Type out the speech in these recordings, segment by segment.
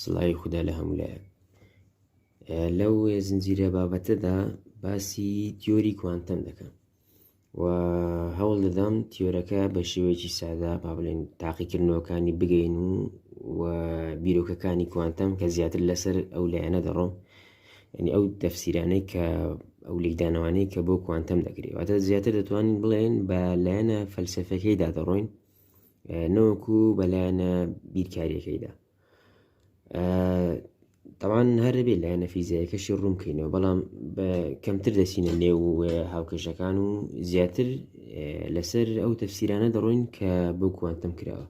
سڵاوی خوددا لە هەموو لایەک لەو زنجیرە بابەتەدا باسی تیۆری کوانتەم دەکەم و هەوڵ دەدەم تیۆرەکە بە شێوەیەکی سادا با بڵێن تاقیکردنەوەکانی بگەین و و بیرۆکەکانی کوانتەم کە زیاتر لەسەر ئەو لایەنە دەڕۆم یعنی ئەو تەفسیرانەی کە ئەو لێکدانەوانەی کە بۆ کوانتەم دەکرێت واتە زیاتر دەتوانین بڵێن بە لایەنە فەلسفەکەیدا دەڕۆین نەوەکو بەلایەنە بیرکاریەکەیدا تەوان هەربێ لایەنە فیزیایەکەشی ڕوونکەینەوە بەڵام کەمتر دەچینە نێو هاوکەشەکان و زیاتر لەسەر ئەو تەفسیرانە دەڕۆین کە بۆ کوانتم کراوە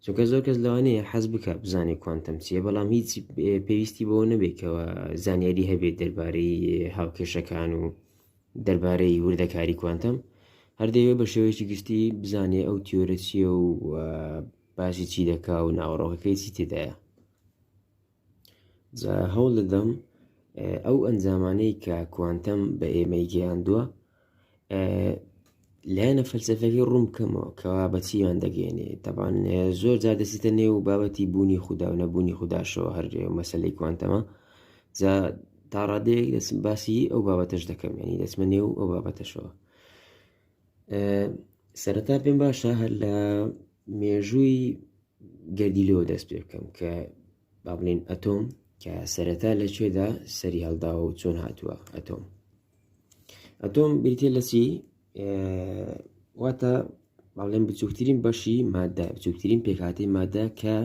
چونکە زۆر کەس لەوانەیە حەز بکات بزانێت کوانتەم چییە بەڵام هیچ پێویستی بەوە نەبێتەوە زانیاری هەبێت دەربارەی هاوکێشەکان و دەربارەی وردەکاری کوانتەم هەردەوێت بە شێوەیەکی گشتی بزانێ ئەو تیۆرە چییە و باسی چی دەکا و ناوەڕۆکەکەی چی تێدایە جا هەوڵ دەدەم ئەو ئەنجامانەی کە کوانتەم بە ئێمەی گەیاندووە لایەنە فەلسفەکەی ڕوون بکەمەوە کەوا بەچیان دەگەێنێ تەبان زۆر جا دەسیتە نێو و بابەتی بوونی خوددا و نەبوونی خودداشەوە هەر مەسلەی کوانتەمە جا تا ڕادەیەک دەسم باسی ئەو بابەتەش دەکەم ینی دەسمە نێو ئەو بابەتەشەوە سەرەتا پێم باشە هەر لە مێژووی گەردی لۆ دەست پێ بکەم کە با بڵێن ئەتۆم کە سەرەتا لە کوێدا سەری هەڵداوە و چۆن هاتووە ئەتۆم ئەتۆم بریتێ لە چی واتە باڵێن بچووکترین بەشی مادە بچووکترین پێکاتی مادە کە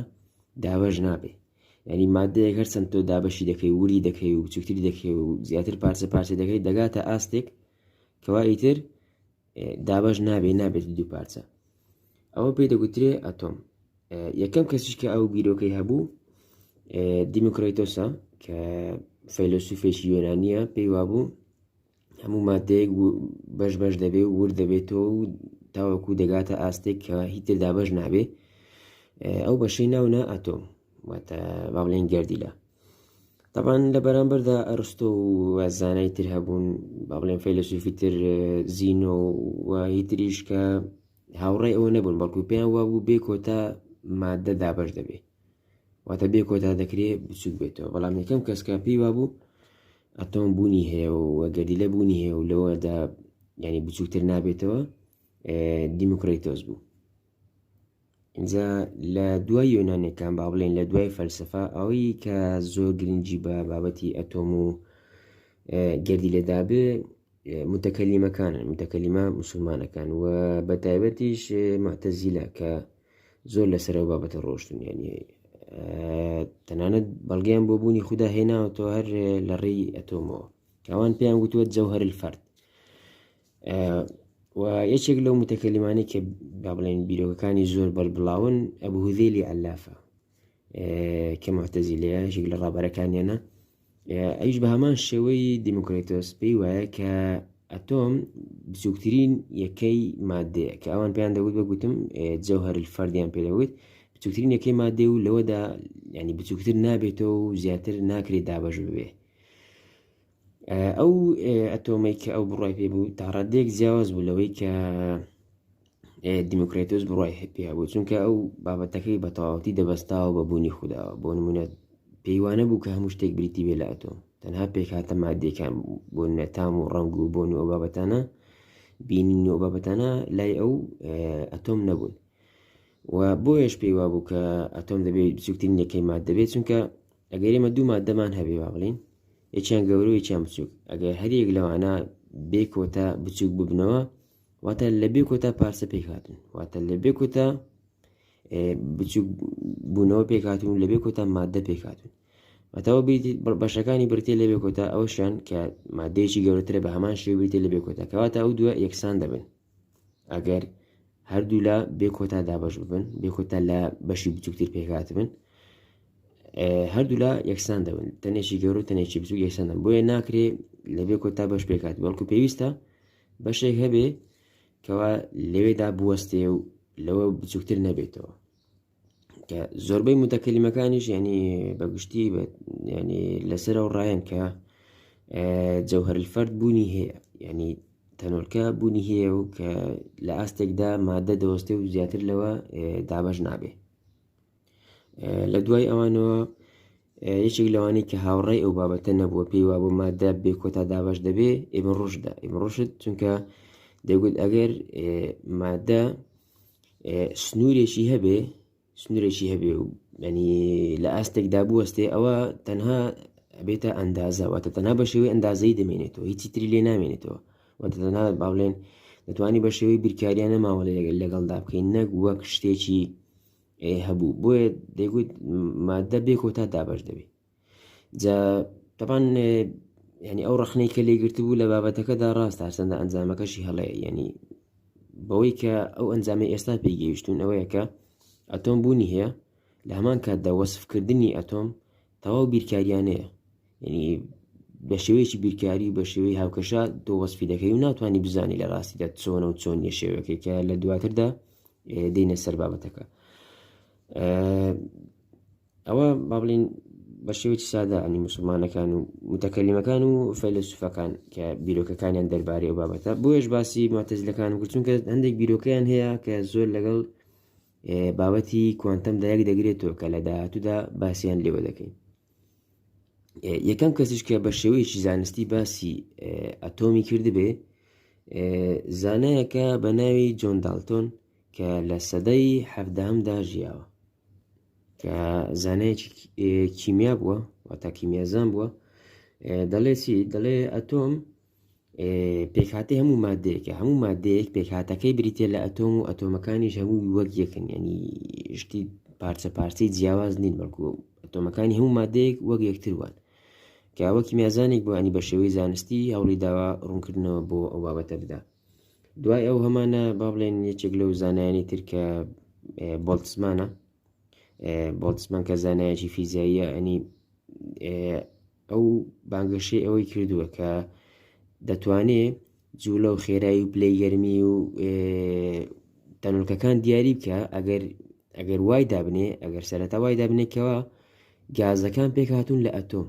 دابەش نابێ ینی مادەیە هەر چەند تۆ دابەشی دەکەی وری دەکەی و بچووکتری دەکەی و زیاتر پارچە پارچە دەکەی دەگاتە ئاستێک کەوا ئیتر دابەش نابێ نابێت دوو پارچە ئەوە پێی دەگوترێ ئەتۆم یەکەم کەسیش کە ئەو بیرۆکەی هەبوو دیموکراتۆسە کە فەیلسوفێکی یۆنانیە پێی وابوو هەموو مادەیەک بەش بەش دەبێ و ور دەبێتەوە و تاوەکو دەگاتە ئاستێک کە هیتر دابەش نابێ ئەو بەشەی ناونا ئەتۆم واتە با بڵێن گردیلە تەبان لە بەرامبەردا ئەرستۆ و زانای تر هەبوون با بڵێن فەیلسوفی تر زینۆ و هیتریش کە هاوڕێ ئەوە نەبوون بەڵکو پێیان وابوو بێ کۆتا مادە دابش دەبێت واتە بێ کۆتا دەکرێت بچوک بێتەوە بەڵام یەکەم کەسکە پێی وابوو ئەتۆم بوونی هەیە و گەردی لە بوونی هەیە و لەوەدا ینی بچووتر نابێتەوە دیموکریتۆز بوو ئینجا لە دوای یۆنانەکان با بڵێن لە دوای فەلسفە ئەوەی کە زۆر گرنگی بە بابەتی ئەتۆم و گردی لێدابێ متەکەلیمەکانن متەکەلیمە مسلمانەکان و بە تایبەتیش مەتەزیلا کە زۆر لەسەرەوە بابەتە ڕۆشتن ینی تەنانەت بەڵگەیان بۆ بوونی خوددا هێناوەەوە هەر لە ڕێی ئەتۆمەوە ئەوان پێیان گوتووە جەوهر الفرد و یەکێک لەو متەکەلیمانی کە با بڵێن بیرۆکەکانی زۆر بەربڵاون ئەبهودێلی ئەلافە کە مەتەزی لە یەکێک لە ڕابەرەکانیانە ئەوش بە هەمان شێوەی دیموکراتۆس پێی وایە کە ئەتۆم بچووکترین یەکەی مادەیە کە ئەوان پێیان دەوت بە گوتم جەوهر فەردیان پێدەوت بچووکترین یەکەی مادێ و لەوەدا ینی بچووکتر نابێتەوە و زیاتر ناکرێت دابش ببێ ئەو ئەتۆمەی کە ئەو بڕای پێ بوو تا ڕادێک جیاواز بوو لەوەی کە دیموکراتۆس بڕای پێ بوو چونکە ئەو بابەتەکەی بە تەواوەتی دەبەستاوە بە بوونی خوددا بۆ نمونە پێیوانە بوو کە هەموو شتێک بریتی بێ لە ئەتۆم تەنها پێکاتە مادێکان بۆ نەتام و ڕنگ و بۆن و ئەو بابەتانە بینین و بابەتانە لای ئەو ئەتۆم نەبوون و بۆیش پێی وابوو کە ئەتۆم دەبێت بچووکترین یەکەی ماد دەبێت چونکە ئەگەر ئێمە دوو مادەمان هەبێ با بڵین یەکیان گەورە و یەکیان بچووک ئەگەر هەریەک لەوانە بێ کۆتا بچووک ببنەوە واتە لە بێ کۆتا پارسە پێک هاتن واتە لە بێ کۆتا بچووک بوونەوە پێک هاتون لە بێ کۆتا مادە پێک هاتون ئەتەوە بەشەکانی برتێ لە بێ کۆتا ئەوشیان کە مادەیەکی گەورەترە بە هەمان شێ بریتێ لە بێ کۆتا کەواتە ئەو دووە یەکسان دەبن ئەگەر هەردوولا بێ کۆتا دابش ببن بێ کۆتا لە بەشی بچووکتر پێکات بن هەردوولا یەکسان دەبن تەنێکی گەور و تەنێکی بچوو یەکسانن بۆیە ناکرێ لە بێ کۆتا بەش پێکات بەڵکو پێویستە بەشێک هەبێ کەوا لەوێدا بوەستێ و لەوە بچووکتر نەبێتەوە کە زۆربەی متەکەلیمەکانیش ینی بە گشتی بێت ینی لەسەر و ڕایەن کە جەوهرفرد بوونی هەیە ینی تەنۆلکە بوونی هەیە و کە لە ئاستێکدا مادە دەوەستێ و زیاتر لەوە دابش نابێ لە دوای ئەوانەوە یەکێک لەوانی کە هاوڕێی ئەو بابەتە نەبووە پێی وا بۆ مادە بێ کۆتا دابش دەبێ ئێمە ڕژدا ئێمە ڕژت چونکە دەگوت ئەگەر مادە سنوورێکی هەبێ سنوورێکی هەبێ و ینی لە ئاستێکدا بوەستێ ئەوە تەنها بێتە ئەندازەوەتە تەنها بە شێوەی ئەندازەی دەمێنێتەوە هیچی تری لێ نامێنێتەوە وەتەنا باڵێن دەتوانانی بە شێوەی بیرکاریانە ماوە لەگەل لەگەڵدا بکەین نەک وەک شتێکی هەبوو بۆیە دەگوت مادە بێ کۆتا دابش دەبێت جا تەبان ینی ئەو ڕخنەی کە لێ گرتبوو لە بابەتەکەدا ڕاستە هەرسەندە ئەنجامەکەشی هەڵێ ینی بەوەی کە ئەو ئەنجامی ئێستا پێیگەیشتون ئەوەیە کە ئەتۆم بوونی هەیە لە هەمان کاتدا وەسفکردنی ئەتۆم تەواو بیرکاریانەیە ینی بە شێوەیەکی بیرکاری و بە شێوەی هاوکەشە دۆ وەسفی دەکەی و ناتوانانی بزانانی لە ڕاستیدا چۆنە و چۆن یە شێوەکەی کە لە دواتردا دینە سەر بابەتەکە ئەوە با بڵین بە شێوەی سادا ئەنی مسلمانەکان و متەکەلیمەکان و فەیلسوفەکان کە بیرۆکەکانیان دەربارەی ئەو بابەتە بۆیش باسی ماتەزلەکان و چونکە هەندێک بیرۆکەیان هەیە کە زۆر لەگەڵ بابەتی کوانتەم دایک دەگرێتەوە کە لە داهاتوودا باسییان لێوە دەکەین یەکەم کەسیش کە بە شێوەیەکی زانستی باسی ئەتۆمی کردبێ زانایەکە بە ناوی جۆن دالتۆن کە لە سەدەی حەفدەهمدا ژیاوە کە زانایەکی کیمیا بووە واتا کیمیازان بووە دەڵێ چی دەڵێ ئەتۆم پێکهاتی هەموو مادەیەکە هەموو مادەیەک پێکهاتەکەی بریتە لە ئەتۆم و ئەتۆمەکانیش هەموو وەک یەکن ینی شتی پارچە پارچەی جیاواز نین بەڵکو ئەتۆمەکانی هەموو مادەیەک وەک یەکتر وان کەوەکی میازانێک بۆ ئەنی بە شێوەی زانستی هەوڵی داوا ڕوونکردنەوە بۆ ئەو بابەتە بدات دوای ئەو هەمانە با بڵێن یەکێک لەو زانایانی تر کە بۆڵتزمانە بۆڵتزمان کە زانایەکی فیزیاییە ئەنی ئەو بانگەشەی ئەوەی کردووە کە دەتوانێ جوولە و خێرایی و پلەی گەرمی و تەنولکەکان دیاری بکە ئەگەر ئەگەر وای دابنێ ئەگەر سەرەتا وای دابنێکەوە گازەکان پێکهاتون لە ئەتۆم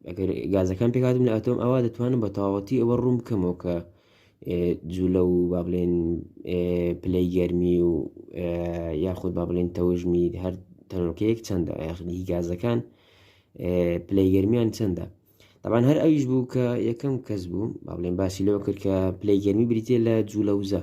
ئەگەر گازەکان پێکات من ئەتۆم ئەوە دەتوانم بە تەواوەتی ئەوە ڕوون بکەمەوە کە جوولە و با بڵێن پلەی گەرمی و یاخود با بڵێن تەوژمی هەر تەنۆکەیەک چەندە یاخنی گازەکان پلەی گەرمیان چەندە تاوان هەر ئەویش بوو کە یەکەم کەس بوو با بڵێن باسی لەوە کرد کە پلەی گەرمی بریتە لە جوولەوزە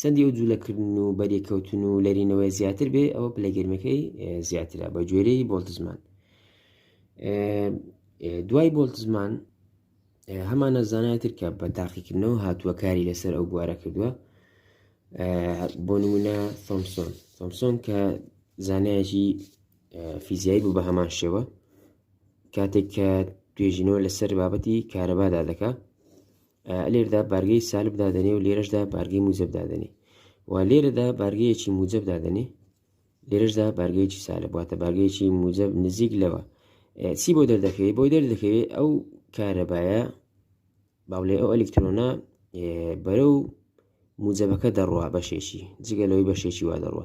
چەندی ئەو جوولەکردن و بەریکەوتن و لەرینەوەی زیاتر بێ ئەوە پلەگەرمەکەی زیاترە بە گوێرەی بۆلتزمان دوای بۆلتزمان هەمانە زانایتر کە بە تاقیکردنەوە هاتووە کاری لەسەر ئەو بوارە کردووە بۆ نمونە تۆمسۆن تۆمسۆن کە زانایەکی فیزیایی بوو بە هەمان شێوە کاتێک کە توێژینەوە لەسەر بابەتی کارەبادا دەکات لێردا بارگەی سالب دادەنێ و لێرەشدا بارگەی موجب دادەنێ و لێرەدا بارگەیەکی موجب دادەنێ لێرەشدا بارگەیەکی سالب واتە بارگەیەکی موجب نزیک لەوە چی بۆ دەردەکەوێت بۆی دەردەکەوێت ئەو کارەبایە باولێ ئەو ئەلکترۆنا بەرە و موجبەکە دەڕوا بەشێکی جگە لەوەی بەشێکی وا دەڕوە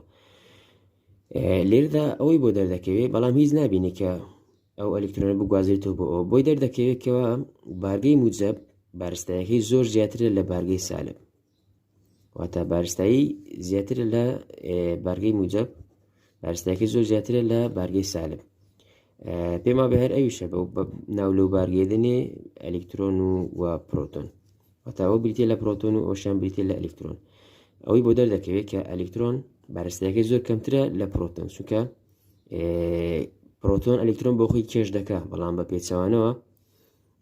لێردا ئەوەی بۆ دەردەکەوێت بەڵام هیچ نبینێکە ئەو ئەلکترۆنە بگوازێتەوە بۆ ئەوە بۆی دەردەکەوێت کەەوە بارگەی موجب بارستایەکەی زۆر زیاترە لە بارگەی سالب واتە بارستایی زیاتر لە بارگەی موجب بارستایەکەی زۆر زیاترە لە بارگەی سالب پێما بە هەر ئەویشە بە ناو لەو بارگێدنێ ئەلکترۆن و و پرۆتۆن وتاوە بریتە لە پرۆتۆن و ئۆشان بریتە لە ئەلکترۆن ئەوەی بۆ دەردەکەوێت کە ئەلکترۆن بارستایەکەی زۆر کەمترە لە پرۆتۆن سوکە پرۆتۆن ئەلکترۆن بۆ خۆی کێش دەکە بەڵام بە پێچوانەوە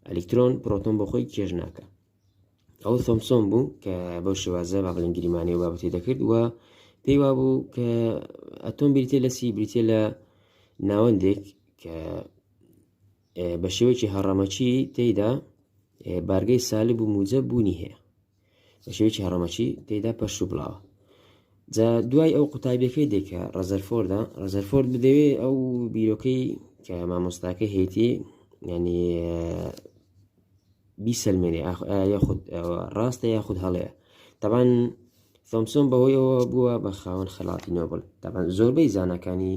ئەلکترۆن پرۆتۆن بۆ خۆی کێش ناکە ئەو سۆمسۆم بوو کە بەو شێوازە با بڵین گریمانەی و بابەتی دەکرد و پێی وا بوو کە ئەتۆم بریتێ لە سی بریتێ لە ناوەندێک کە بە شێوەیەکی هەڕەمەچی تێیدا بارگەی سالب و موجە بوونی هەیە بە شێوەیەکی هەڕەمەکی تێدا پەرش و بڵاوە جا دوای ئەو قوتابیەکەی دێکە ڕەزەرفۆردا ڕەزەرفۆرد بدەوێ ئەو بیرۆکەی کە مامۆستاکە هێتی ینی بیسەلمێنێ یاخود ڕاستە یاخود هەڵەیە تەبان ثۆمسۆن بەهۆیەوە بووە بە خاوەن خەڵاتی نۆبل تەبان زۆربەی زانەکانی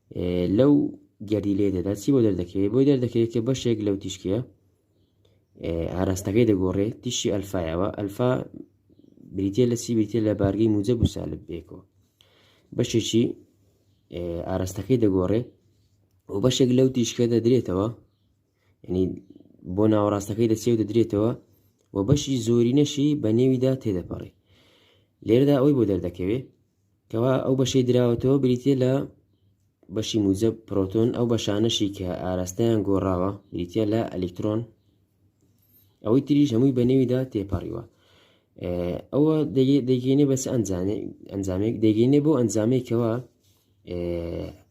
لەو گردی لێ دەدا چی بۆ دەردەکەوێت بۆی دەردەکەوێت کە بەشێک لەو تیشکە ئاراستەکەی دەگۆڕێ تیشی ئەلفایەوە ئەلفا بریتە لە سی بریتە لە بارگەی موجە بوسالب بێکەوە بەشێکی ئاراستەکەی دەگۆڕێ و بەشێک لەو تیشکە دەدرێتەوە ینی بۆ ناوەڕاستەکەی دەچێ و دەدرێتەوە و بەشی زۆری نەشی بە نێویدا تێدەپەڕێ لێرەدا ئەوی بۆ دەردەکەوێت کەوا ئەو بەشەی دراوەتەوە بریتە لە بەشی موزە پرۆتۆن ئەو بەشانەشی کە ئاراستەیان گۆڕاوە بریتە لە ئەلکترۆن ئەوەی تریش هەمووی بە نێویدا تێپەڕیوە ئەوە دەگەینێ بەس ئەنجانێ ئەنجامێک دەگەینێ بۆ ئەنجامێکەوە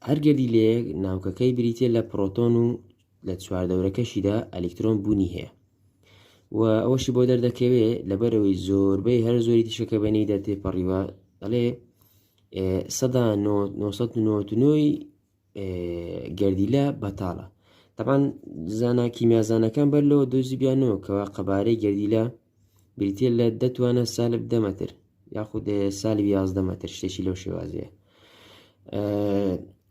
هەرگەلی لێ ناوکەکەی بریتە لە پرۆتۆن و لە چواردەورەکەشیدا ئەلیکترۆن بوونی هەیە و ئەوەشی بۆ دەردەکەوێ لەبەرەوەی زۆربەی هەر زۆری تشەکە بەنی دەتێ پەڕیوە ئەڵێ سەدا 1990ی گردیلە بەتاڵە تەبان زانە کیمیازانەکان بەر لەوە دۆزی بیانەوە کەوا قەبارەی گردیلە بریتیە لە دە توانە سالب دە مەتر یاخود سالب یازدە مەتر شتێکی لەو شێوازەیە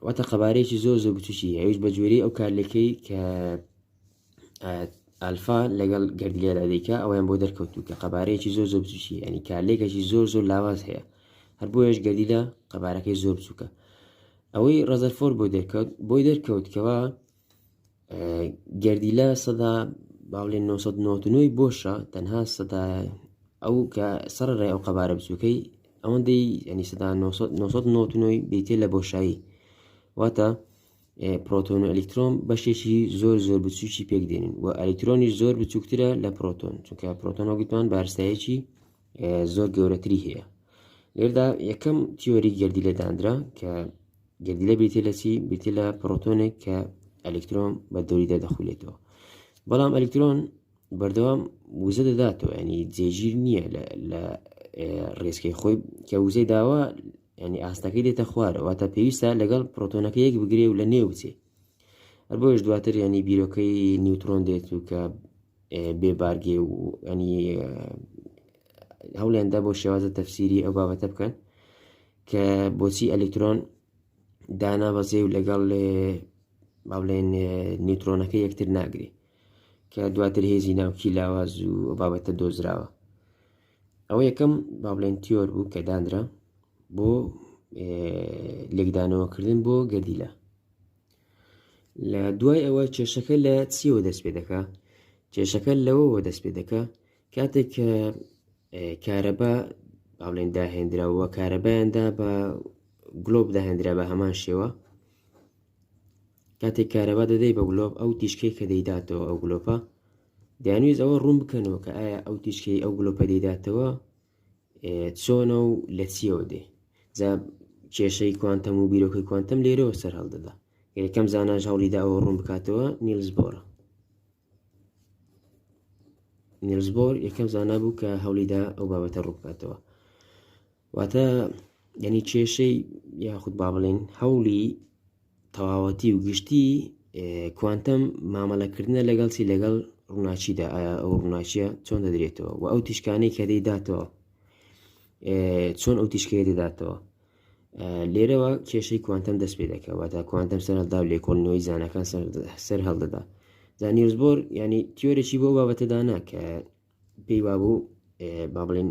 واتە قەبارەیەکی زۆر زۆر بچوکی ئەوش بە جوێری ئەو کارلەکەی کە ئالفا لەگەڵ گردلێرا دیکە ئەویان بۆ دەرکەوتو کە قەبارەیەکی زۆر زۆر بچوکی ئەنی کارلێکەکی زۆر زۆر لاواز هەیە هەر بۆیش گردیدا قەبارەکەی زۆر بچووکە ئەوەی ڕزەرفۆر بۆ دەرکەوت بۆی دەرکەوت کەەوە گەردیلە سەدا باڵێ 1990 بۆشە تەنها سەدا ئەو کە سەر ڕێ ئەو قەبارە بچووکەی ئەوەندەی ئەنی سەدا 1990 دیتێ لە بۆشایی واتە پرۆتۆن و ئەلیکترۆم بەشێکی زۆر زۆر بچوکی پێک دێنین و ئەلیکترۆنی زۆر بچووکترە لە پرۆتۆن چونکە پرۆتۆنە گوتمان بارستایەکی زۆر گەورەتری هەیە لێردا یەکەم تیۆری گردی لە دانرا کە گردی لە بریتێ لە چی بریتێ لە پرۆتۆنێک کە ئەلکترۆن بە دەوری دەدەخولێتەوە بەڵام ئەلکترۆن بەردەوام وزە دەداتەوە ینی جێگیر نییە لە ڕێسکەی خۆی کە وزەی داوا ینی ئاستەکەی دێتە خوارەوە تا پێویستە لەگەڵ پرۆتۆنەکە یەک بگرێ و لە نێو بچێ هەر بۆیش دواتر ینی بیرۆکەی نیوترۆن دێت و کە بێ بارگێ و ئەنی هەولیاندا بۆ شێوازە تەفسیری ئەو بابەتە بکەن کە بۆچی ئەلکترۆن دانابەزێ و لەگەڵ با بڵێن نیوترۆنەکە یەکتر ناگری کە دواتر هێزی ناوکی لاواز و بابەتە دۆزراوە ئەوە یەکەم با بڵێن تیۆر بوو کە دانرا بۆ لێکدانەوەکردن بۆ گەردیلە لە دوای ئەوە کێشەکە لە چیەوە دەست پێ دەکا کێشەکە لەوەوە دەست پێ دەکە کاتێک کە کارەبا باڵێن داهێنراوە کارەبایاندا بە گلۆب داهێنرا بە هەمان شێوە کاتێک کارەبا دەدەی بە گلۆب ئەو تیشکەی کە دەیداتەوە ئەو گلۆپە دەیانویست ئەوە ڕوون بکەنەوە کە ئایا ئەو تیشکەی ئەو گلۆپە دەیداتەوە چۆنە و لە چیەوە دێ جا کێشەی کوانتەم و بیرۆکەی کوانتەم لێرەوە سەر هەڵدەدا یەکەم زاناش هەوڵیدا ئەوە ڕوون بکاتەوە نیلز بۆرە نیلز بۆر یەکەم زانا بوو کە هەوڵیدا ئەو بابەتە ڕوو بکاتەوە واتە یعنی کێشەی یاخود با بڵێن هەوڵی تەواوەتی و گشتی کوانتەم مامەلەکردە لەگەڵچی لەگەڵ ڕووناچیدا ئایا ئەو ڕووناچیە چۆن دەدرێتەوە و ئەو تیشکانەی کە دەیداتەوە چۆن ئەو تیشکەیە دەداتەوە لێرەوە کێشەی کوانتەم دەست پێ دەکەوە تا کوانتەم سەردا و لێکۆڵنەوەی زانەکان سەر هەڵدەدا زانیرزبۆر ینی تیۆرەی بۆ بابەتەدانا کە پێی وابوو با بڵێن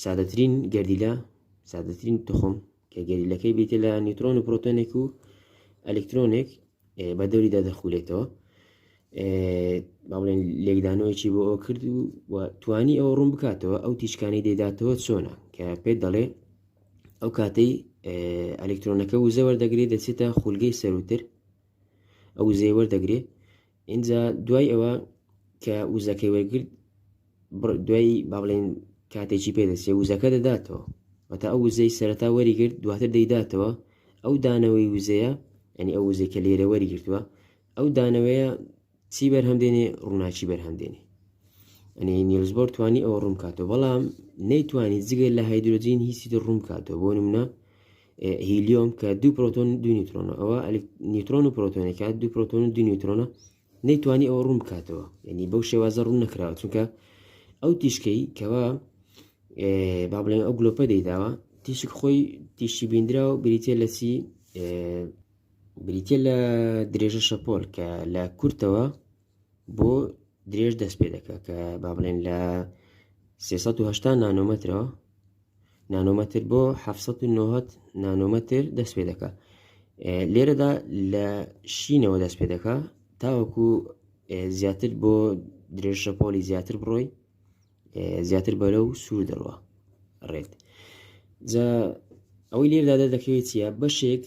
سادەترین گەردیلە سادەترین تخم کە گەریلەکەی بیتە لە نیوترۆن و پرۆتۆنێک و ئەلکترۆنێک بە دەوریدا دەخولێتەوە با بڵێن لێکدانەوەیکی بۆ ئەو کرد و توانی ئەوە ڕوون بکاتەوە ئەو تیشکانی دەداتەوە چۆنە کە پێت دەڵێ ئەو کاتەی ئەلکترۆنەکە وزەوە دەگرێت دەچێتە خولگەی سەروتر ئەو زێوە دەگرێت ئینجا دوای ئەوە کە وزەکەی وەرگرت دوای با بڵێن کاتێکی پێدەچێ وزەکە دەداتەوە وەتا ئەو وزەی سەرتا وەریگرت دواتر دەیداتەوە ئەو دانەوەی وزەیە ئەنی ئەو وزەی کە لێرە وەریگرتووە ئەو دانەوەیە چی بەرهەم دێنێ ڕووناکی بەرهەم دێنێ ئەنی نیلزبۆر توانی ئەوە ڕوون کاتەوە بەڵام نەیتوانی جگە لە هایدروۆجین هیچی ڕوون کاتەوە بۆ نمونە هیلیۆم کە دوو پرۆتۆن دوو نیوترۆنە ئەوە نیوترۆن و پرۆتۆنێکا دوو پرۆتۆن و دوو نیوترۆنە نەیتوانی ئەوە ڕوون بکاتەوە یعنی بەو شێوازە ڕوون نکراوە چونکە ئەو تیشکەی کەوا با بڵێن ئەو گلۆپە دەیداوە تیشک خۆی تیشی بیندرا و بریتە لە چی بریتە لە درێژە شەپۆل کە لە کورتەوە بۆ درێژ دەست پێ دەکە کە با بڵێن لە 380 نانۆمەترەوە نانۆمەتر بۆ 1970 نانۆمەتر دەست پێ دەکە لێرەدا لە شینەوە دەست پێ دەکە تاوەکو زیاتر بۆ درێژە پۆلی زیاتر بڕۆی زیاتر بەرە و سوور دەڕوە ڕێت جا ئەوەی لێردا دەردەکەوێت چیە بەشێک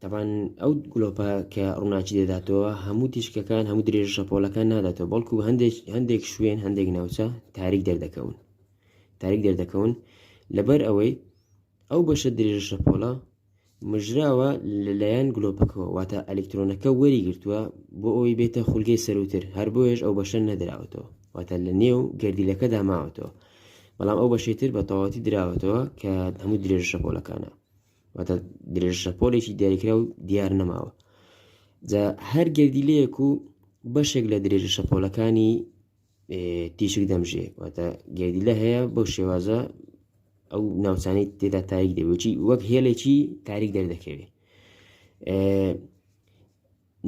تەبان ئەو گلۆپە کە ڕووناکی دەداتەوە هەموو تیشکەکان هەموو درێژ شەپۆلەکان ناداتەوە بەڵکو هەندێک هەندێک شوێن هەندێک ناوچە تاریک دەردەکەون تاریک دەردەکەون لەبەر ئەوەی ئەو بەشە درێژە شەپۆڵە مژراوە لەلایەن گلۆپەکەەوە واتە ئەلکترۆنەکە وەری گرتووە بۆ ئەوی بێتە خولگەی سەروتر هەر بۆیش ئەو بەشە نەدراوەتەوە واتە لە نێو گردیلەکەدا ماوەتەوە بەڵام ئەو بەشی تر بە تەواتی دراوەتەوە کە هەموو درێژە شەپۆلەکانە واتە درێژە شەپۆلێکی دیاریکرا و دیار نەماوە جا هەر گردیلەیەک و بەشێک لە درێژە شەپۆلەکانی تیشک دەمژێ واتە گردیلە هەیە بۆ شێوازە ئەو ناوچانەی تێدا تاریک دەبێتی وەک هێلێکی تاریک دەردەکەوێت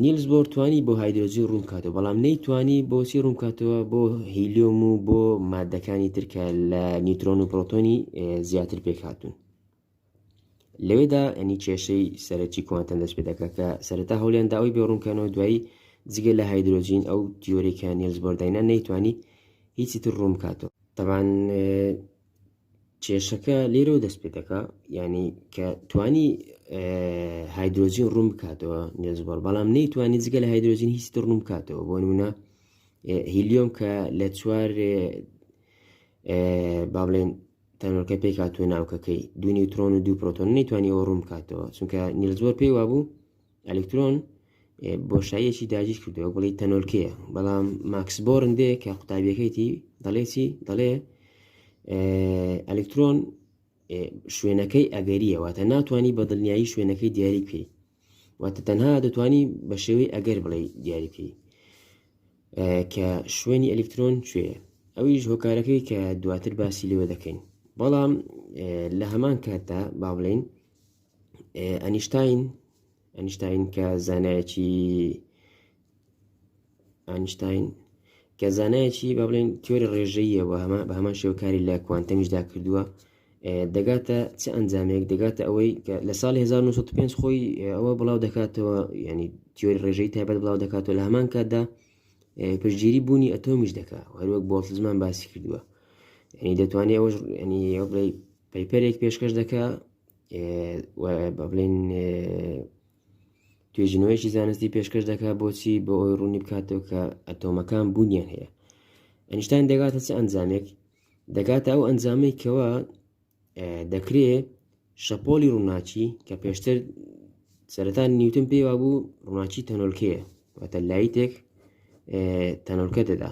نیلز بۆر توانی بۆ هایدرۆجی ڕوون کاتەوە بەڵام نەیتوانی بۆچی ڕوون کاتەوە بۆ هیلیۆم و بۆ مادەکانی ترکە لە نیوترۆن و پرۆتۆنی زیاتر پێکهاتون لەوێدا ئەنی کێشەی سەرەکی کوانتەن دەست پێ دەکات کە سەرەتا هەولیان داوای بێ ڕوونکەنەوە دوایی جگە لە هایدرۆجین ئەو دیۆرێکە نیلز بۆرداینا نەیتوانی هیچی تر ڕوون بکاتەوە تەبان کێشەکە لێرەوە دەست پێ دەکات ینی کە توانی هایدرۆجین ڕوون بکاتەوە نیلز بۆر بەڵام نەیتوانی جگە لە هایدرۆجین هیچ تر ڕوون بکاتەوە بۆ نمونە هیلیۆم کە لە چوار با بڵێن تەنۆلکە پێک هاتووە ناوکەکەی دو نیوترۆن و دو پرۆتۆن نەیتوانی ئەوە ڕوون بکاتەوە چونکە نیلزۆر پێی وابوو ئەلکترۆن بۆشاییەکی داگیر کردەوە بڵی تەنۆلکەیە بەڵام ماکس بۆرن دێ کە قوتابیەکەیتی دەڵێتی دەڵێ ئەلکترۆن شوێنەکەی ئەگەریە واتە ناتوانانی بە دڵنیایی شوێنەکەی دیاری بکەیت واتە تەنها دەتوانی بە شێوەی ئەگەر بڵێ دیاریکەی کە شوێنی ئەلکترۆن کوێ ئەویش هۆکارەکەی کە دواتر باسی لێوە دەکەین بەڵام لە هەمان کاتدا با بڵین ئەنیشتین ئەنیشتین کە زانایەکی ئەنیشتاین کە زانایەکی با بڵێن تیۆری ڕێژەیە بە هەمە بە هەمان شێوکاری لە کوانتەمیشدا کردووە دەگاتە چ ئەنجامێک دەگاتە ئەوەی کە لە ساڵی 1995 خۆی ئەوە بڵاو دەکاتەوە ینی تیۆری ڕێژەی تایبەت بڵاو دەکاتەوە لە هەمان کاتدا پشگیری بوونی ئەتۆمیش دەکات هەروەک بۆڵتزمان باسی کردووە ینی دەتوانێت ئەوەش ینی بڵێ پەیپەرێک پێشکەش دەکە بڵێن توێژینەوەیەکی زانستی پێشکەش دەکات بۆچی بۆ ئەوی ڕوونی بکاتەوە کە ئەتۆمەکان بوونیان هەیە ئەنیشتان دەگاتە چ ئەنجامێک دەگاتە ئەو ئەنجامەی کەەوە دەکرێ شەپۆلی ڕووناچی کە پێشتر سەرەتان نیوتن پێوا بوو ڕووناچی تەنۆلکەیە واتە لایتێک تەنۆلکە دەدا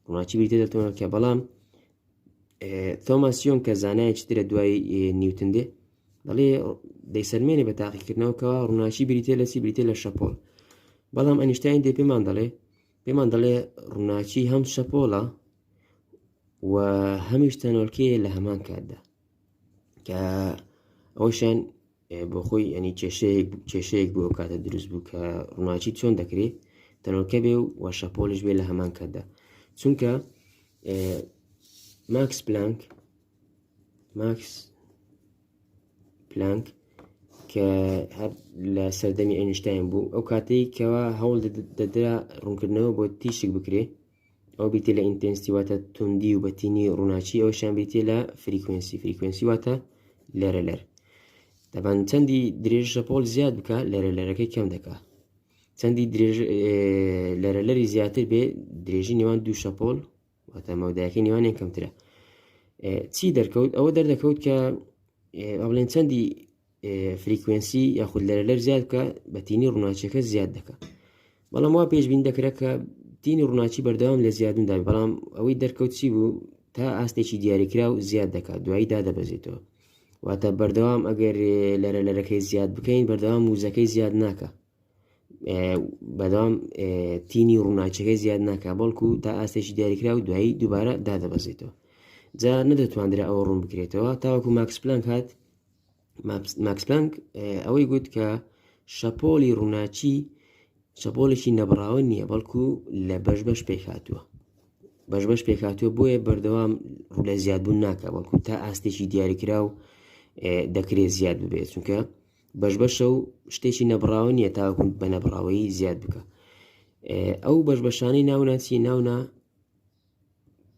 ڕووناچی بریتە دە تۆنەکە بەڵام تۆماسیۆن کە زانایەکی ترە دوای نیوتن دێ دەڵێ دەیسەلمێنێ بە تاقیکردنەوە کە ڕووناکی بریتێ لە چی بریتێ لە شەپۆل بەڵام ئەنیشتین دێ پێمان دەڵێ پێمان دەڵێ ڕووناکی هەم شەپۆڵە و هەمیش تەنۆلکەیە لە هەمان کاتدا کە ئەوشان بۆ خۆی ئەنی کێشەیەک کێشەیەک بۆ کاتە دروست بوو کە ڕووناکی چۆن دەکرێت تەنۆلکە بێ و وەشەپۆلش بێ لە هەمان کاتدا چونکە ماکس پلانک ماکس پلانک کە هەر لە سەردەمی ئەنیشتاین بوو ئەو کاتەی کەەوە هەوڵ دەدرا ڕوونکردنەوە بۆ تیشک بکرێ ئەو بیتێ لە ئینتەنسیواتە توندی و بەتینی ڕووناچی ئەوشان بیتێ لە فریکوێنسی فریکوێنسی واتە لەرە لەر دەبان چەندی درێژە پۆل زیاد بکە لەرە لەرەکەی کەم دەکا چەندی لەرە لەری زیاتر بێ درێژی نێوان دوو شەپۆل واتە مەودایەکەی نێوانیان کەمترە چی دەرکەوت ئەوە دەردەکەوت کە ئەڵێن چەندی فریکوێنسی یاخود لەرە لەر زیاد بکە بە تینی ڕووناچەکە زیاد دەکە بەڵام وا پێشبین دەکرێت کە تینی ڕووناچی بەردەوام لە زیادندا بەڵام ئەوەی دەرکەوت چی بوو تا ئاستێکی دیاریکرا و زیاد دەکات دوایی دادەبەزێتەوە واتە بەردەوام ئەگەر لەرە لەرەکەی زیاد بکەین بەردەوام وزەکەی زیاد ناکە بەدەوام تینی ڕووناچەکەی زیاد ناکە بەڵکو تا ئاستێکی دیاریکرا و دوایی دووبارە دادەبەزێتەوە جا نەدەتواندرا ئەوە ڕوون بکرێتەوە تاوەکو ماکسپلان هاات ماکسپلانک ئەوەی گوت کە شەپۆلی ڕووناچی شەپۆلێکی نەبراوە نییە بەڵکو لە بەش بەش پێک هاتووە بەش بەش پێک هاتووە بۆیە بەردەوام ڕوولە زیادبوون ناکە بەڵکو تا ئاستێکی دیاریکرا و دەکرێت زیاد ببێت چونکە بەش بەشە و شتێکی نەبراوە نیە تاکو بە نەبراوەی زیاد بکە ئەو بەش بەشانەی ناوناچی ناونا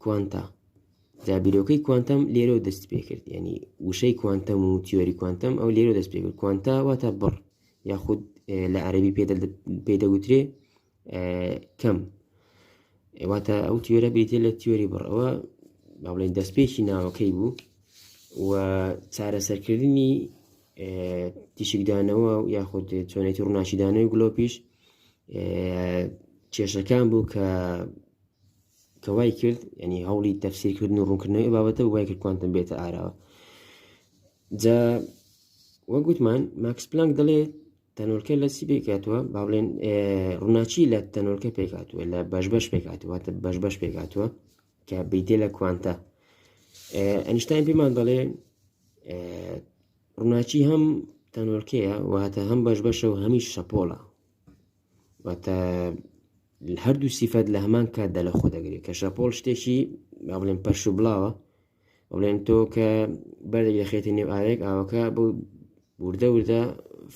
کوانتا جابیرۆکەی کوانتەم لێرە دەست پێ کرد ینی وشەی کوانتەم و تیۆری کوانتەم ئەو لێرە دەست پێ کرد کوانتا واتە بڕ یاخود لە عەربی پێ پێدەگوترێ کەم واتە ئەو تیۆرە بریتە لە تیۆری بڕەوە با بڵێن دەستپێکی ناوەکەی بوو و چارەسەرکردنی تیشکدانەوە و یاخود چۆنێتی ڕووناشیدانەوەی گلۆپیش کێشەکان بوو کە کەوای کرد ینی هەوڵی تەفسیرکردن و ڕوونکردنەوەی بابەتە وای کرد کوانتم بێتە ئاراوە جا وەگوتمان ماکس پلانک دەڵێت تەنۆلکە لە چی پێکاتوە با بڵێن ڕووناچی لە تەنۆلکە پێکاتوە لە بەش بەش پێکاتوە بەش بەش پێکاتوە کە بیدێ لە کوانتە ئەنیشتان پێمان دەڵێ ڕووناچی هەم تەنۆلکەیە واتە هەم بەش بەشە و هەمیش شەپۆڵە واتە هەردوو سیفەت لە هەمان کاتدا لە خۆ دەگرێت کە شەپۆل شتێکی با بڵێن پەرش و بڵاوە ئەڵێن تۆ کە بەردێک دەخێتە نێو ئاوێک ئاوەکە بۆ وردە وردە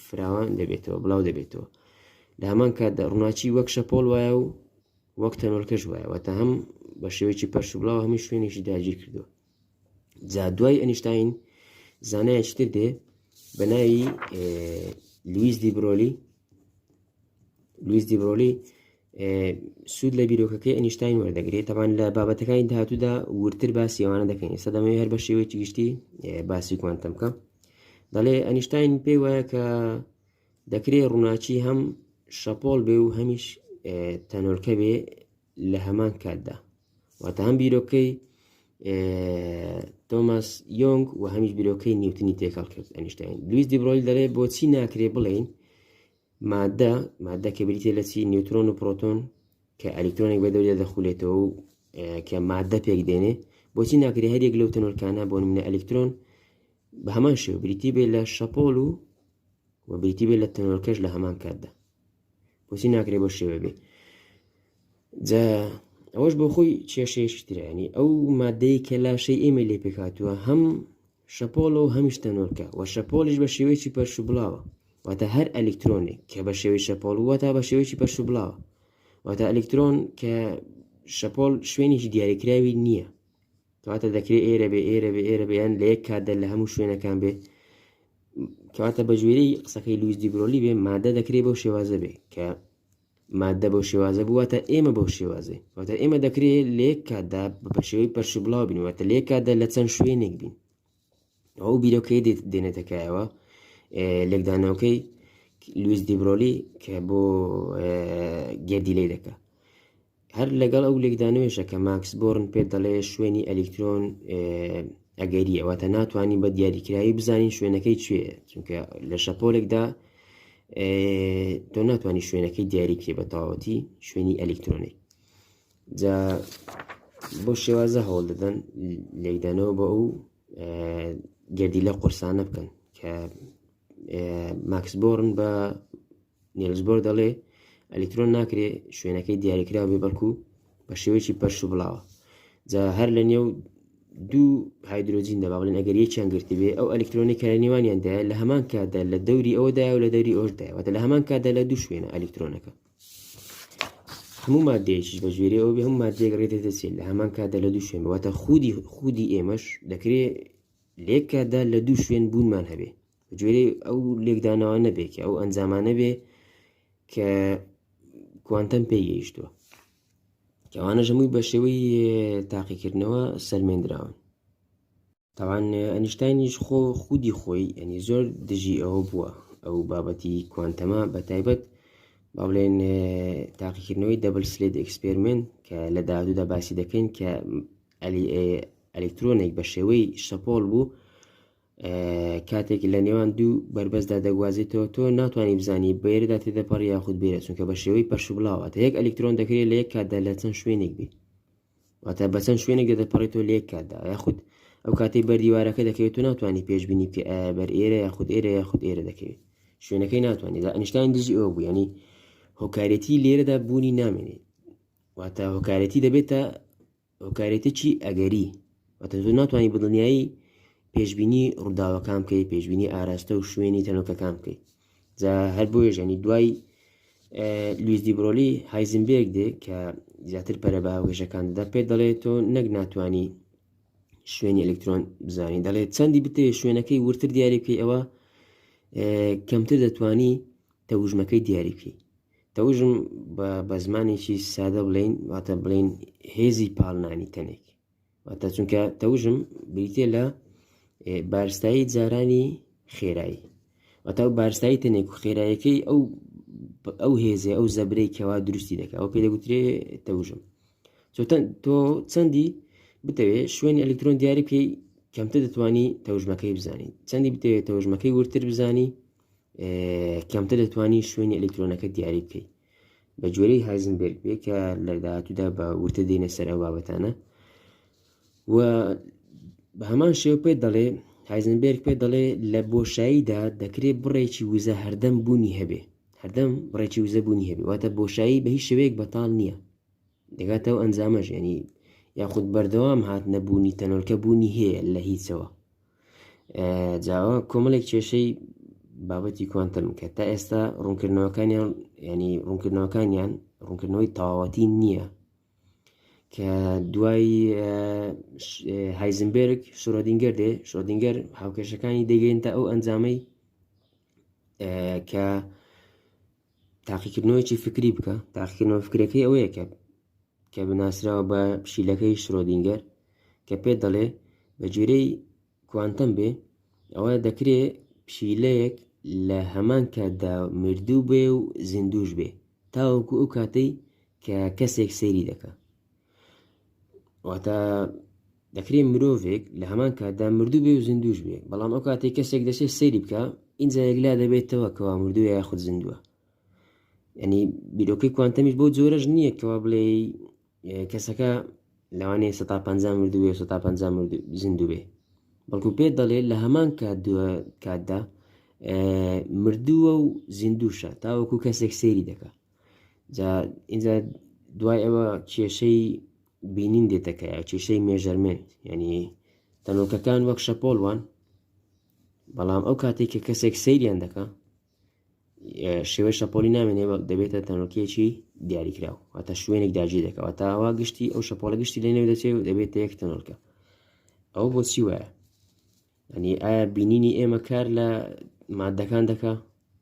فراوان دەبێتەوە بڵاو دەبێتەوە لە هەمان کاتدا ڕووناچی وەک شەپۆل وایە و وەک تەنۆلکەش وایەوە تا هەم بە شێوەیەکی پەرش و بڵاو هەمی شوێنێکی داگیر کردووە جا دوای ئەنیشتین زانایەکی تر دێ بە ناوی لویز دیبرۆلی لویس دیبرۆلی سوود لە بیرۆکەکەی ئەنیشتین وەردەگرێت تەبان لە بابەتەکانی داهاتوودا ورتر باسی ئەوانە دەکەین ئێستا دەمەوێت هەر بە شێوەیەکی گشتی باسی کوانتەم بکەم دەڵێ ئەنیشتین پێی وایە کە دەکرێت ڕووناچی هەم شەپۆل بێ و هەمیش تەنۆلکە بێ لە هەمان کاتدا واتە هەم بیرۆکەی تۆماس یۆنگ و هەمیش بیرۆکەی نیوتنی تێکەڵ کرد ئەنیشتین لویس دیبرۆلی دەڵێ بۆچی ناکرێ بڵین مادە مادە کە بریتە لە چی نیوترۆن و پرۆتۆن کە ئەلیکترۆنێک بە دەورێ دەخولێتەوە و کە مادە پێک دێنێ بۆچی ناکری هەریەک لەو تەنۆرکانە بۆ منە ئەلیکترۆن بە هەمان شێ بریتی بێ لە شەپۆل و و بریتی بێ لە تەنۆرکەش لە هەمان کاتدا بۆچی ناکرێ بۆ شێوە بێ جا ئەوەش بۆ خۆی کێشەیەشی ترانی ئەو مادەی کە لاشەی ئێمە لێ پێکاتوە هەم شەپۆڵ و هەمیش تەنۆلکە، وە شەپۆڵیش بە شێوەیەکی پەرشوبڵاوە، واتە هەر ئەلیکترۆنێک کە بە شێوەی شەپۆڵ و وەتا بە شێوەیەکی پەرشوبڵاوە، واتە ئەلیکترۆن کە شەپۆڵ شوێنێکی دیاریکراوی نییە، کەواتە دەکرێت ئێرە بێ ئێرە بێ ئێرە بێیان لە یەک کاتدا لە هەموو شوێنەکان بێ کەواتە بە جوێرەی قسەکەی لویس دیبرۆلی بێ مادە دەکرێت بەو شێوازە بێ کە ماددە بەو شێوازە بوو واتە ئێمە بەو شێوازەی واتە ئێمە دەکرێت لە یەک کاتدا بە شێوەی پەرشی بڵاو بین واتە لە یەک کاتدا لە چەند شوێنێک بین ئەو بیرۆکەی دێنێتەکایەوە لێکدانەوەکەی لویس دیبرۆلی کە بۆ گردی لی دەکە هەر لەگەڵ ئەو لێکدانەوەیشە کە ماکس بۆرن پێت دەڵێ شوێنی ئەلیکترۆن ئەگەریە واتە ناتوانین بە دیاریکراوی بزانین شوێنەکەی کوێ چونکە لە شەپۆلێکدا تۆ ناتوانانی شوێنەکەی دیاریکرێ بە تەواوەتی شوێنی ئەلیکترۆنی جا بۆ شێوازە هەوڵ دەدەن لێکدانەوە بە ئەو گردی لە قورسانە بکەن کە ماکس بۆرن بە نیلسبۆر دەڵێ ئەلیکترۆن ناکرێ شوێنەکەی دیاریکراو بێ بەڵکو بە شێوەیەکی پەرش و بڵاوە جا هەر لە نێو دوو هایدروۆجین دەبا بڵێن ئەگەر یەکیان گرتی بێ ئەو ئەلیکترۆنی کە لە نێوانیاندا لە هەمان کاتدا لە دەوری ئەوەدا و لە دەوری ئۆشداوەتە لە هەمان کاتدا لە دوو شوێنە ئەلیکترۆنەکە هەموو مادەیەکی بە جوێری ئەو بێ هەموو مادێک ڕێ دەدەچێت لە هەمان کاتدا لە دوو شوێن واتە خودی خودی ئێمەش دەکرێت لێک کاتدا لە دوو شوێن بوونمان هەبێ جوێرەی ئەو لێکدانەوە نەبێ کە ئەو ئەنجامانە بێ کە کوانتەم پێ گەیشتووە کەوانە ژەمووی بە شێوەی تاقیکردنەوە سەلمێنراون تاوان ئەنیشتینیش خۆ خودی خۆی ئەنی زۆر دژی ئەوە بووە ئەو بابەتی کوانتەما بە تایبەت با بڵێن تاقیکردنەوەی دەبل سلێت ئەکسپێرمنت کە لە داهاتوودا باسی دەکەین کە ئەلیکترۆنێک بە شێوەی شەپۆل بوو کاتێک لە نێوان دوو بەربەستدا دەگوازێتەوە تۆ ناتوانانی بزانی بێردا تێدەپەڕ یاخود بێرە چونکە بە شێوەی پەرشبلاواتە یەک ئەلکترۆن دەکرێت لە یەک کاتدا لە چەند شوێنێک بێت واتە بە چەند شوێنێک دەدەپەڕێتەوە لە یەک کاتدا یاخود ئەو کاتی بەردیوارەکە دەکەوێت و ناتوانانی پێشببینی بکە بەر ئێرە یاخود ئێرە یاخود ئێرە دەکەوێت شوێنەکەی ناتوانانی دا ئەنیشتانی دژی ئەو بوو ینی هۆکارەتی لێرەدا بوونی نامێنێت واتە هۆکارەتی دەبێتە هۆکارێتیی ئەگەری، واتە تۆ ناتوانی بە دڵنیایی پێشبینی ڕووداوەکان بکەیت، پێشبینی ئاراستە و شوێنی تەنۆکەکان بکەیت. جا هەر بۆیەش ینی دوای لویس دیبرۆلی هایزنبێرگ دێ کە زیاتر پەرە بە هاوکێشەکان دەدا پێ دەڵێت تۆ نەک ناتوانانی شوێنی ئەلکترۆن بزانین دەڵێت چەندی بتەوێت شوێنەکەی ورتر دیاریکەی ئەوە کەمتر دەتوانی تەوژمەکەی دیاری بکەی تەوژم بە زمانێکی سادە بڵین واتە بڵین هێزی پاڵنانی تەنێک واتە چونکە تەوژم بریتێ لە بارستایی جارانی خێرایی وەتا و بارستایی تەنێک و خێرایەکەی ئەو ئەو هێزێ ئەو زەبرەی کەوا دروستی دەکە ئەو پێ دەگوترێ تەوژم چۆتەن تۆ چەندی بتەوێت شوێنی ئەلکترۆن دیاری بکەی کەمتر دەتوانی تەوژمەکەی بزانین چەندی بتەوێت تەوژمەکەی ورتر بزانی کەمتر دەتوانی شوێنی ئەلکترۆنەکە دیاری بکەیت بە جۆرەی هایزنبرگ بێ کە لە داهاتوودا بە ورتە دێنە سەر ئەو بابەتانە و بە هەمان شێو پێ دەڵێ هایزنبرگ پێ دەڵێ لە بۆشاییدا دەکرێت بڕێکی وزە هەردەم بوونی هەبێ هەردەم بڕێکی وزە بوونی هەبێ واتە بۆشایی بە هیچ شوەیەک بەتاڵ نییە دەگاتەوە ئەنجامەژێنی یاخود بەردەوام هات نەبوونی تەنۆلکە بوونی هەیە لە هیچەوە جاوە کۆمەلێک کێشەی بابەتی کوانتم کە تا ئێستا ڕوونکردنەوەکانیان ینی ڕوونکردنەوەکانیان ڕوونکردنەوەی تەواوەتی نییە کە دوای هایزنبرگ شرۆدینگەر دێ شۆدینگەر هاوکێشەکانی دەگەین تا ئەو ئەنجامەی کە تاقیکردنەوەیەکی فکری بکە تاقیکردنەوە فکرەکەی ئەوەیە کە کە بناسراوە بە پشیلەکەی شرۆدینگەر کە پێ دەڵێ بە جێرەی کوانتەم بێ ئەوە دەکرێ پشیلەیەک لە هەمان کاتدا مردوو بێ و زیندوش بێ تاوەکو ئەو کاتەی کە کەسێک سەیری دەکە واتە دەکرێت مرۆڤێک لە هەمان کاتدا مردوو بێ و زیندوش بێ بەڵام ئەو کاتێک کەسێک دەسێت سەیری بکە ئینجا یەکلا دەبێتەوە کەوا مردوو یا خود زیندووە ینی بیرۆکەی کوانتەمیش بۆ جۆرەش نییە کەوا بڵێ کەسەکە لەوانێ 150 مردوێ 150 زیندوو بێ بەڵکو پێ دەڵێ لە هەمان کات دووە کاتدا مردووە و زیندوشە تاوەکو کەسێک سێری دەکات جا ئینجا دوای ئەوە کێشەی بینین دێتەکەە کێشەی مێژەرمێن یعنی تەنۆکەکان وەک شەپۆل وان بەڵام ئەو کاتێک کە کەسێک سەیریان دەکە شێوەی شەپۆلی نامێنێ دەبێتە تەنۆکیەکی دیاریکراو واتە شوێنێک داجی دەکەوە تاوا گشتی ئەو شەپۆلە گشتی لە نێو دەچێت و دەبێتە یەک تەنۆلکە ئەو بۆچی وایە ئەنی ئایا بینینی ئێمە کار لە مادەکان دەکا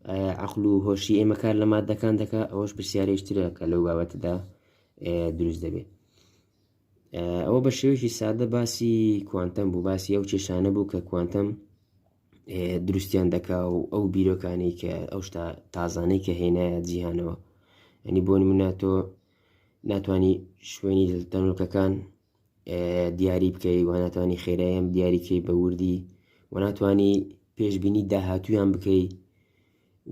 ئایا عقل و هۆشی ئێمە کار لە مادەکان دەکا ئەوەش پرسیارێشترە کە لەو بابەتدا دروست دەبێت ئەوە بە شێوەیەکی سادە باسی کوانتەم بوو باسی ئەو کێشانە بوو کە کوانتەم دروستیان دەکا و ئەو بیرۆکانی کە ئەو شتا تازانەی کە هێنایە جیهانەوە ئەنی بۆ منە تۆ ناتانی شوێنی تەنۆکەکان دیاری بکەی و ناتوانانی خێرایان دیاریکەی بە وردی و ناتانی پێشببینی داهاتویان بکەی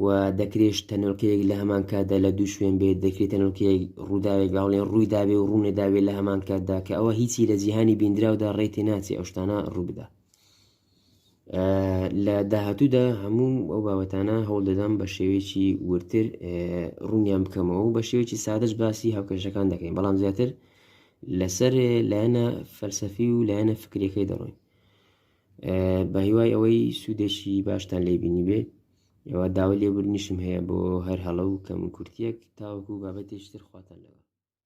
و دەکرێش تەنۆلکەیەک لە هەمان کاتدا لە دوو شوێن بێت دەکرێت تەنۆلکەیەک ڕووداوێک باڵێن ڕووی داوێ و ڕوونێ داوێت لە هەمان کاتدا کە ئەوە هیچی لە جیهانی بیندراودا ڕێتی ناچێ ئەوشتانە ڕووبدا لە داهاتوودا هەموو ئەو بابەتانە هەوڵدەدەم بە شێوەیەکی ورتر ڕوونیان بکەمەوە و بە شێوەیەکی سادەش باسی هاوکێشەکان دەکەین بەڵام زیاتر لەسەر لایەنە فەلسەفی و لایەنە فکرەکەی دەڕۆین بە هیوای ئەوەی سوودێکی باشتان لێ بینی بێ ئەوە داوای لێبوردنیشم هەیە بۆ هەر هەڵە و کەم کورتیەک تاوەکو بابەتێکتر خواتان لەوە